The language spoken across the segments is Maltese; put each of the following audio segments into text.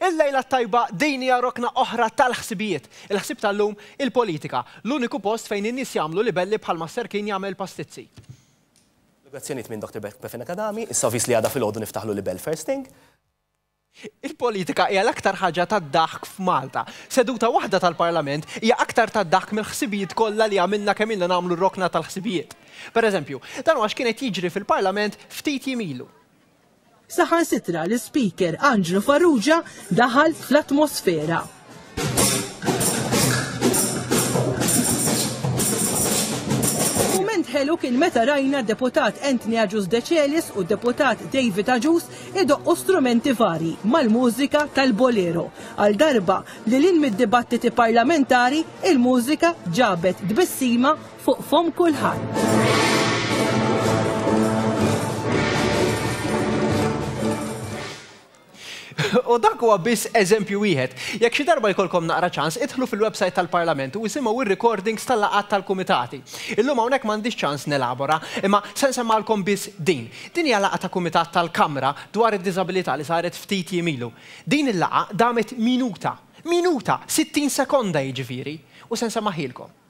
Il-lejla t-tajba, din hija rokna oħra tal-ħsibijiet. Il-ħsieb tal-lum, il-politika, l-uniku post fejn in-nies jagħmlu libelli bħalma s-serkin jagħmel pastizzi. L-oġġezzjonijiet minn Dr. Befena Kadami, issa vis li għada filgħodu niftaħlu libell first thing. Il-politika hija l-aktar ħaġa tad-daħk f'Malta. Seduta waħda tal-Parlament hija aktar tad-daħk mill-ħsibijiet kollha li għamilna kemm ilna nagħmlu r-rokna tal-ħsibijiet. Per eżempju, dan huwa x'kien qed jiġri fil-Parlament ftit jiem ilu. Saħansitra l-Ispeaker Anġlu Farrugia daħal fl-atmosfera. ħelu kien meta rajna deputat Anthony Aġus Decelis u deputat David Aġus idoqqu strumenti vari mal-mużika tal-bolero. Għal darba li l-in mid-dibattiti parlamentari il-mużika ġabet dbissima Fuq fomm kulħadd. U dak huwa biss eżempju wieħed. Jekk xi darba jkollkom naqra ċans, idħlu fil-websajt tal-Parlament u isimgħu r-recordings tal-laqgħat tal-kumitati. Illum hawnhekk m'għandix ċans nelabora, imma se nsemmagħlkom biss din. Din hija laqgħa ta' kumitat tal-Kamra dwar id-diżabilità li saret ftit jiem ilu. Din il-laqgħa damet minuta. Minuta! Sittin sekonda jiġifieri. U se nsemmaħhielkom.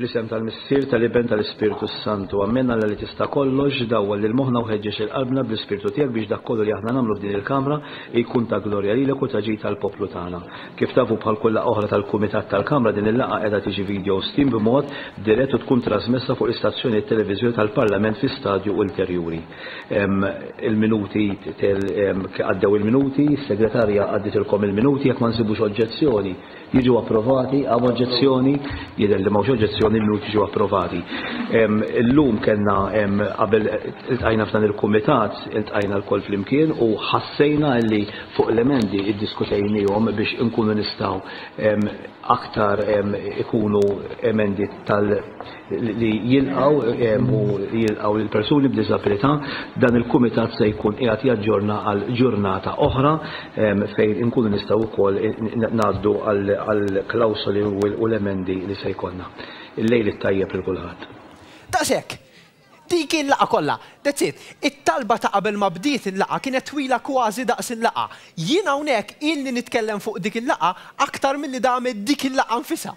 Fl-isem tal-Missier, tal-Iben, tal-Ispirtu s-Santu. Amen, Alla li tista' kollox, dawwal lil moħħna u ħeġġeġ lil qalbna bl-Ispirtu tiegħek biex dak kollu li aħna nagħmlu f'din il-kamra jkun ta' glorja lilek u ta' ġid għall-poplu tagħna. Kif tafu bħal kull laqgħa oħra tal-Kumitat tal-Kamra din il-laqgħa qiegħda tiġi video steam b'mod dirett u tkun trażmessa fuq l-istazzjonijiet televiżjoni tal-Parlament fi stadju ulterjuri. Il-minuti, għaddew il-minuti, is-Segretarja għadditilkom il-minuti, jekk ma nsibux oġġezzjoni, jiġu approvati, hawn oġġezzjoni, jidher li m'hawnx oġġezzjoni, il-minuti jiġu approvati. Illum kellna qabel iltqajna f'dan il-kumitat, iltqajna lkoll flimkien u ħassejna li fuq l-emendi iddiskutejniehom biex inkunu nistgħu aktar ikunu emendi tal- li jilqgħu u jilqgħu lil persuni b'diżabilità, dan il-kumitat se jkun qiegħed jaġġorna għal ġurnata oħra fejn inkunu nistgħu wkoll ngħaddu għall-klawsoli u l-emendi li se jkollna. Il-lejl it-tajjeb lil kulħadd. Daqshekk. Dik hi l-laqgħa kollha. That's it. It-talba ta' qabel ma bdiet il-laqgħa kienet twila kważi daqs il-laqgħa. Jien hawnhekk ilni nitkellem fuq dik il-laqgħa aktar milli damet dik il-laqgħa nfisha.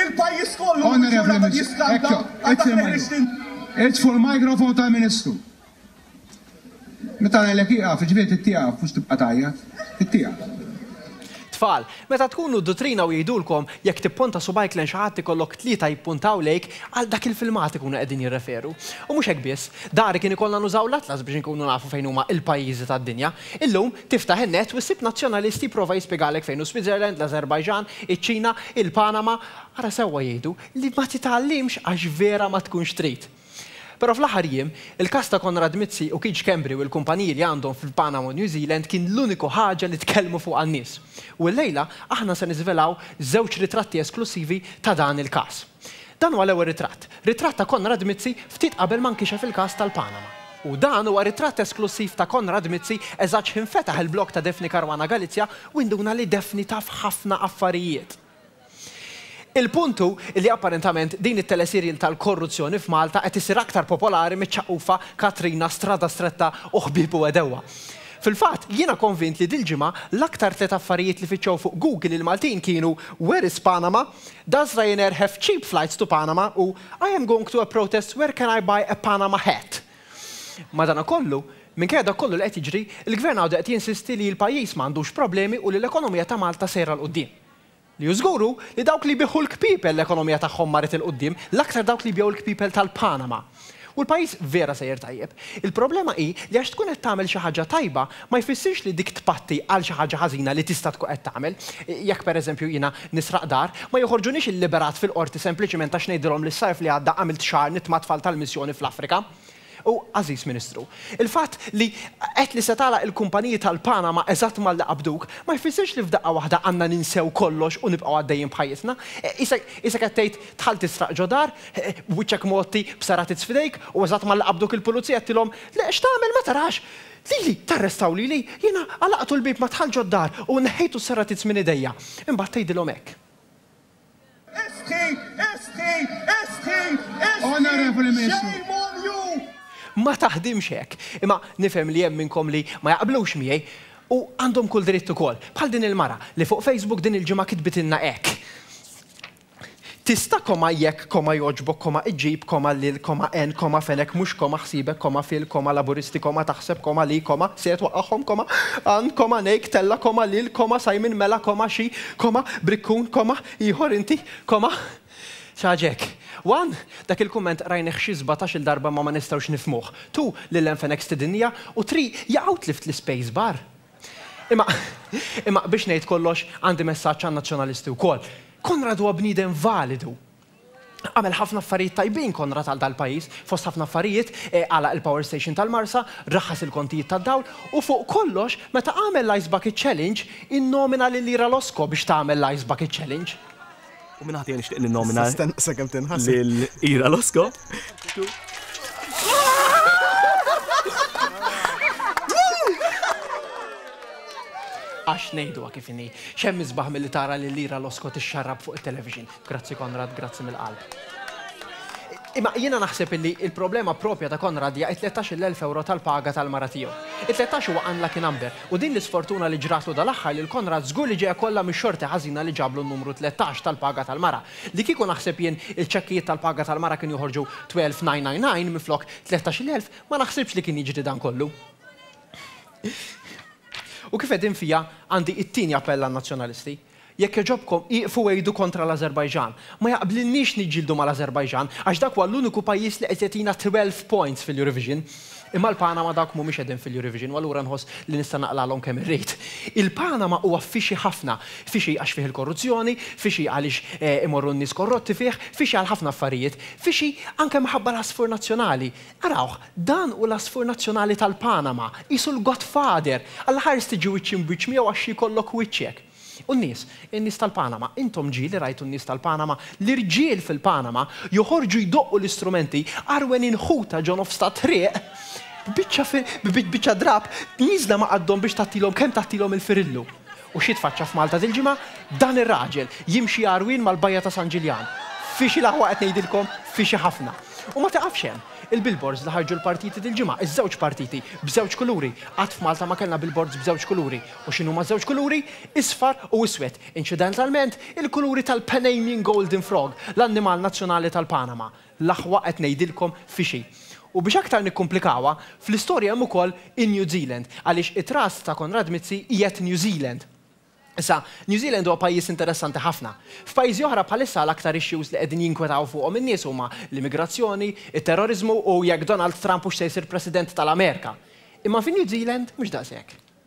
Il-pajjiż kollu hu ġurnata ta' jiskanta għal dak li ħriġt int. Itfu l-microphone tal-Ministru. Meta ngħidlek ieqaf, jiġifieri trid tieqaf, mhux tibqa' tgħajjat. Trid tieqaf. Tfal, meta tkunu d-duttrina u jgħidulkom jekk tipponta subgħajk lejn xi ħadd ikollok tlieta jippuntaw lejk, għal dak il-filmat ikunu qegħdin jirreferu. U mhux hekk biss. Dari kien ikollna nużaw l-atlas biex inkunu nafu fejn huma l-pajjiżi tad-dinja. Illum, Tiftaħ in-net u ssib Nazzjonalist jipprova jispjegalek fejn hu Switzerland, l-Azerbaijan, iċ-Ċina, il-Panama, ara sewwa jgħidu li ma titgħallimx għax vera ma tkunx trid. Però fl-aħħar jiem, il-każ ta' Konrad Mizzi u Keith Schembri u l-kumpaniji li għandhom fil-Panama u New Zealand kien l-uniku ħaġa li tkellmu fuqha n-nies. U llejla aħna se niżvelaw żewġ ritratti esklussivi ta' dan il-każ. Dan huwa l-ewwel ritratt, ritratt ta' Konrad Mizzi ftit qabel ma nkixef il-każ tal-Panama. U dan huwa ritratt esklussiv ta' Konrad Mizzi eżatt x'infetaħ il-blog ta' Daphne Caruana Galizia u induna li Daphne taf ħafna affarijiet. Il-punt hu li apparentament din it-teleserial tal-korruzzjoni f'Malta qed issir aktar popolari miċ-ċaqufa Katrina, Strada Stretta u Ħbieb u Għedewwa. Fil-fatt, jiena konvint li dil-ġimgħa l-aktar tliet affarijiet li fittxew fuq Google il-Maltin kienu Where is Panama? Does Ryanair have cheap flights to Panama? u I am going to a protest, where can I buy a Panama hat? Madanakollu, minkejja dak kollu li qed jiġri, il-Gvern għadu qed jinsisti li l-pajjiż ma għandux problemi u li l-ekonomija ta' Malta sejra 'l quddiem. Li hu żgur hu li dawk li jbigħu l-kpiepel l-ekonomija tagħhom marret 'il quddiem, l-aktar dawk li jbigħu l-kpiepel tal-Panama. U l-pajjiż vera sejjer tajjeb. Il-problema hi li għax tkun qed tagħmel xi ħaġa tajba, ma jfissirx li dik tpatti għal xi ħaġa ħażina li tista' tkun qed tagħmel. Jekk pereżempju jiena nisraq dar, ma joħorġuniex illiberat fil-qorti sempliċiment għax ngħidilhom li s-sajf li għadda għamilt xahar nitt mat-tfal tal-missjoni fl-Afrika. U, għażiż Ministru, il-fatt li għedt li se tagħlaq il-kumpaniji tal-Panama eżatt malli qabduk, ma jfissirx li f'daqqa waħda għandna ninsew kollox u nibqgħu għaddejjin b'ħajjitna. Qisek qed tgħid dħalt tisraq ġo dar, b'wiċċek mgħotti b'saratizz f'idejk u eżatt malli qabduk il-pulizija għedtilhom, Le, x'tagħmel, ma tarax? Lili, tarrestaw lili? Jiena għalaqtu l-bieb ma dħalt ġod-dar u neħħejtu s-saratizz minn idejja. Imbagħad tgħidilhom hekk. Istħi! Istħi! Istħi! Istħi! Shame on you! Ma taħdimx hekk. Imma nifhem li hemm minnkom li ma jaqblux miegħi, u għandhom kull dritt ukoll. Bħal din il-mara, li fuq Facebook din il-ġimgħa kitbitilna hekk. Tista', koma, jekk, koma, jogħġbok, koma, iġġib, koma, lil, koma, għen, koma, fenek, mhux, koma, ħsiebek, koma, fil, koma, Laburisti, koma, taħseb, koma, li, koma, se, twaqqagħhom, koma, għan, koma, ngħid, tella', koma, lil, koma, Simon, mela, koma, xi, koma, brikkun, koma, ieħor, inti, koma, xi ħaġa hekk. One, Dak il-kumment qrajnih xi sbatax-il darba imma ma nistgħux nifhmuh. Two, Lil għen fenek stidinniha, u three, jaqaw tlift l-ispace bar. Imma, imma biex ngħid kollox, għandi messaġġ għan-Nazzjonalisti wkoll. Konrad huwa bniedem validu. Għamel ħafna affarijiet tajbin Konrad għal dal-pajjiż, fost ħafna affarijiet, eh, għalaq il-power station tal-Marsa, raħħas il-kontijiet tad-dawl, u fuq kollox, meta għamel l-ice bucket challenge, innomina lil Ira Losco biex tagħmel l-ice bucket challenge. U minn ħatija nixtieq ninnomina. Sakemm tinħass. Lil Ira Losko. Għax nejdu kif inni, xem izbaħ mill tara li lira l-oskot ix-xarrab fuq il-television. Grazzi Konrad, grazzi mill-qalb. Imma jiena naħseb illi il-problema propja ta' Konrad hija 13,000 euro tal-paga tal-mara tiegħu. 13 huwa unlucky number. U din l-isfortuna li ġratlu dal-aħħar lil Konrad żgur li ġejja kollha mix-xorti ħażina li ġablu n-numru tlettax tal-paga tal-mara. Li kieku naħseb jien il-ċekkijiet tal-paga tal-mara kienu joħorġu 12,999 minflok 13,000, ma naħsibx li kien jiġri dan kollu. U kif qegħdin fija, għandi it-tieni appell għan-Nazzjonalisti. Jekk jogħġobkom, ieqfu għidu kontra l-Ażerbajġan. Ma jaqblilniex niġġieldu mal-Ażerbajġan għax dak huwa l-uniku pajjiż li qed jagħtina twelve points fil-Eurovision. Imma l-Panama dawk mhumiex qegħdin fil-Eurovision u allura nħoss li nista' naqlagħlhom kemm irrid. Il-Panama huwa fixi ħafna. Fixi għax fih il-korruzzjoni, fixi għaliex imorru n-nies korrotti fih, fixi għal ħafna affarijiet. Fixi anke minħabba l-għasfur nazzjonali. Arawh, Dan hu l-għasfur nazzjonali tal-Panama, qisu l-godfather! Għall-aħħar tiġi wiċċ imbiċċ miegħu għax jkollok wiċċek. U n-nies, in-nies tal-Panama, intom ġieli rajtu n-nies tal-Panama, l-irġiel fil-Panama joħorġu jdoqqu l-istrumenti, għarwenin ħuta ġo nofs tat-triq, b'biċċa drapp nieżla ma' qaddhom biex tgħattilhom kemm tgħattilhom il-firillu. U xi tfaċċa f'Malta dil-ġimgħa dan ir-raġel, jimxi għarwien mal-bajja ta' San Ġiljan. Fixi l-aħwa qed ngħidilkom, fixi ħafna. U ma tiqafx hemm. Il-billboards li ħarġu l-partiti dil-ġimgħa, iż-żewġ partiti, b'żewġ kuluri. Qatt f'Malta ma kellna billboards b'żewġ kuluri. U x'inhuma ż-żewġ kuluri? Isfar u iswed. Incidentalment, il-kuluri tal-Panamian Golden Frog, l-annimal nazzjonali tal-Panama. L-aħwa qed ngħidilkom fi xi. U biex aktar nikkumplikawha, fl-istorja hemm ukoll in-New Zealand, għaliex it-trust ta' Konrad Mizzi qiegħed New Zealand. Issa, New Zealand huwa pajjiż interessanti ħafna. F'pajjiżi oħra bħalissa l-aktar issues li qegħdin jinkwetaw fuqhom in-nies huma l-immigrazzjoni, it-terroriżmu u jekk Donald Trump hux se jsir President tal-Amerika. Imma fin-New Zealand mhux daqshekk.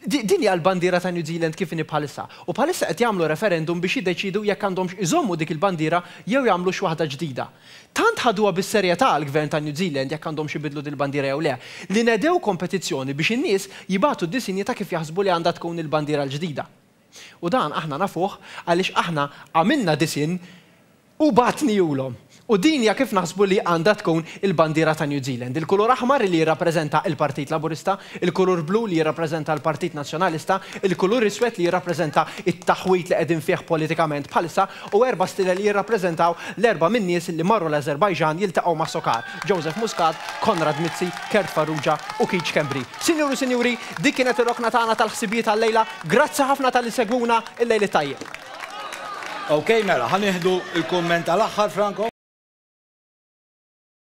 Din hija l-bandiera ta' New Zealand kif inhi bħalissa, u bħalissa qed jagħmlu referendum biex jiddeċiedu jekk għandhomx iżommu dik il-bandiera jew jagħmlu xi waħda ġdida. Tant ħaduha bis-serjetà għall-Gvern ta' New Zealand jekk għandhomx ibiddlu din il-bandiera jew le, li nedew kompetizzjoni biex in-nies jibagħtu disinji ta' kif jaħsbu li għandha tkun il-bandiera l-ġdida. U dan aħna nafuh għaliex aħna għamilna disinn u bagħtniehulhom. U din hija kif naħsbu li għandha tkun il-bandiera ta' New Zealand. Il-kulur aħmar li jirrappreżenta il-Partit Laburista, il-kulur blu li jirrappreżenta l-Partit Nazzjonalista, il-kulur iswed li jirrappreżenta t-taħwid li qegħdin fih politikament bħalissa, u erba' stilel jirrappreżentaw l-erba' min-nies li marru l-Ażerbajġan jiltaqgħu ma' Sokar, Joseph Muscat, Konrad Mizzi, Kurt Farrugia u Keith Schembri. Sinjuri u Sinjuri, dik kienet ir-rokna tagħna tal-ħsibijiet għal-lejla. Grazzi ħafna talli segwuna, il-lejl it-tajjeb. Ok mela, ħa nieħdu l-kumment tal-aħħar Franco.